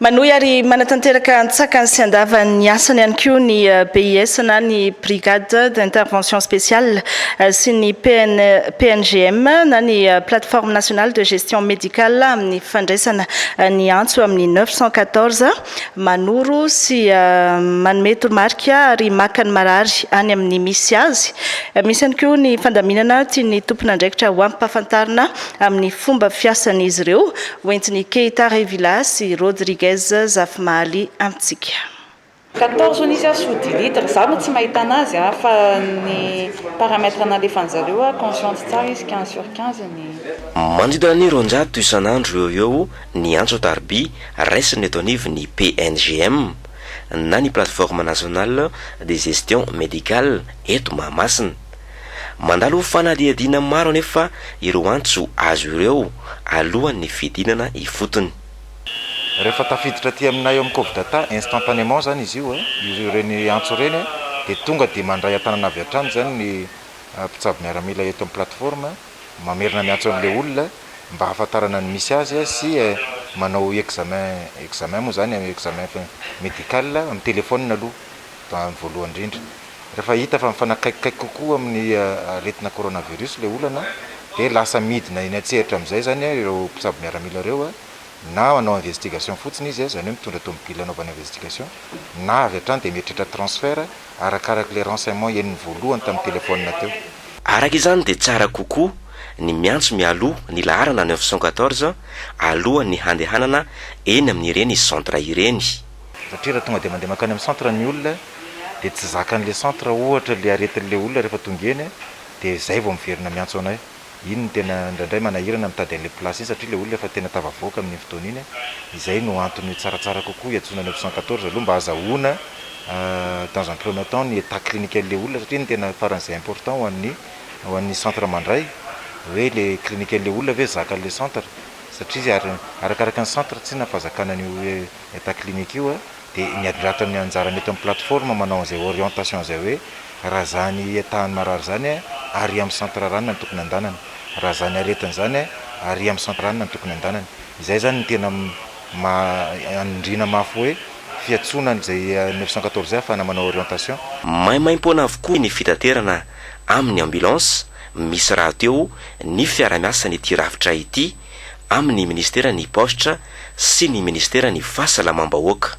Manohy ary manatanteraka antsakany sy andavany ny asany ihany koa ny eh, BIS na ny Brigade d'intervention spéciale eh, sy ny PN, PNGM na ny eh, Plateforme nationale de gestion médicale amin'ny fandraisana ny antso amin'ny 914 manoro sy manome toromarika ary maka ny marary any amin'ny misy azy. Misy ihany koa ny fandaminana tian'ny tompon'andraikitra ho ampahafantarina amin'ny fomba fiasan'izy ireo, hoentin'i Keita Revilla sy Rodriguez Zafimahaly amintsika. Quatorze onicias sous dix litres, za no tsy mahita anazy a, fa ny paramètre nalefany zareo a, consciente tsara izy quinze sur quinze ny. Manodidina ny roanjato isan'andro eo ho eo ny antso-tarobia raisina eto anivon'ny PNGM na ny Plateforme Nationale de Gestion Médicale eto Mahamasina. Mandalo fanadihadiana maro anefa ireo antso azo ireo alohan'ny fidinana ifotony. Rehefa tafiditra aty aminay ao amin'ny Covdata instantanément izany izy io, ireny antso ireny dia tonga dia mandray an-tanana avy hatrany izany ny mpitsabo miaramila eto amin'ny plateforme, mamerina miantso an'ilay olona mba hahafantarana ny misy azy sy manao examen, examen moa izany, examen médical amin'ny téléphone aloha amin'ny voalohany indrindra. Rehefa hita fa mifanakaikikaiky kokoa amin'ny aretina coronavirus ilay olana dia lasa midina eny an-tsehatra amin'izay izany ireo mpitsabo miaramila ireo. na manao investigation fotsiny izy izany hoe mitondra tomobile anaovana investigation na avy hatrany dia mieritreritra transfert arakaraka ilay renseignement henony voalohany tamin'ny telephone teo. Araka izany dia tsara kokoa ny miantso mialoha ny laharana neuf cent quatorze alohan'ny handehanana eny amin'ireny centre ireny. Satria raha tonga dia mandeha mankany amin'ny centre ny olona dia tsy zakan'ilay centre ohatra ilay aretin'ilay olona rehefa tonga eny dia izay vao miverina miantso anay. Iny no tena indraindray manahirana mitady an'ilay place iny satria ilay olona efa tena tafavoaka amin'iny fotoana iny, izay no antony hoe tsaratsara kokoa hiantsoana ny option quatorze aloha mba hazahoana dans un premier temps ny etat cliniquen'ilay olona satria iny no tena faran'izay important ho an'ny ho an'ny centre mandray hoe ilay cliniquen'ilay olona ve zaka an'ilay centre satria izy ary arakaraka ny centre tsinona fahazakana an'io hoe etat clinique io a. dia ny adilatra ny anjarany eto amin'ny plateforme manao an'izay orientation izay hoe raha zany tahan'ny marary izany aria amin'ny centre rana no tokony andanany, raha zany aretina izany aria amin'ny centre rana no tokony andanany, izay izany no tena maha anindriana mafy hoe fiantsoana an'izay neuf cent quatorze izay ahafahana manao orientation. Maimaimpoana avokoa ny fitaterana amin'ny ambulance misy rahateo ny fiarahamiasan'ity rafitra ity amin'ny ministeran'ny paositra sy ny ministeran'ny fahasalamam-bahoaka.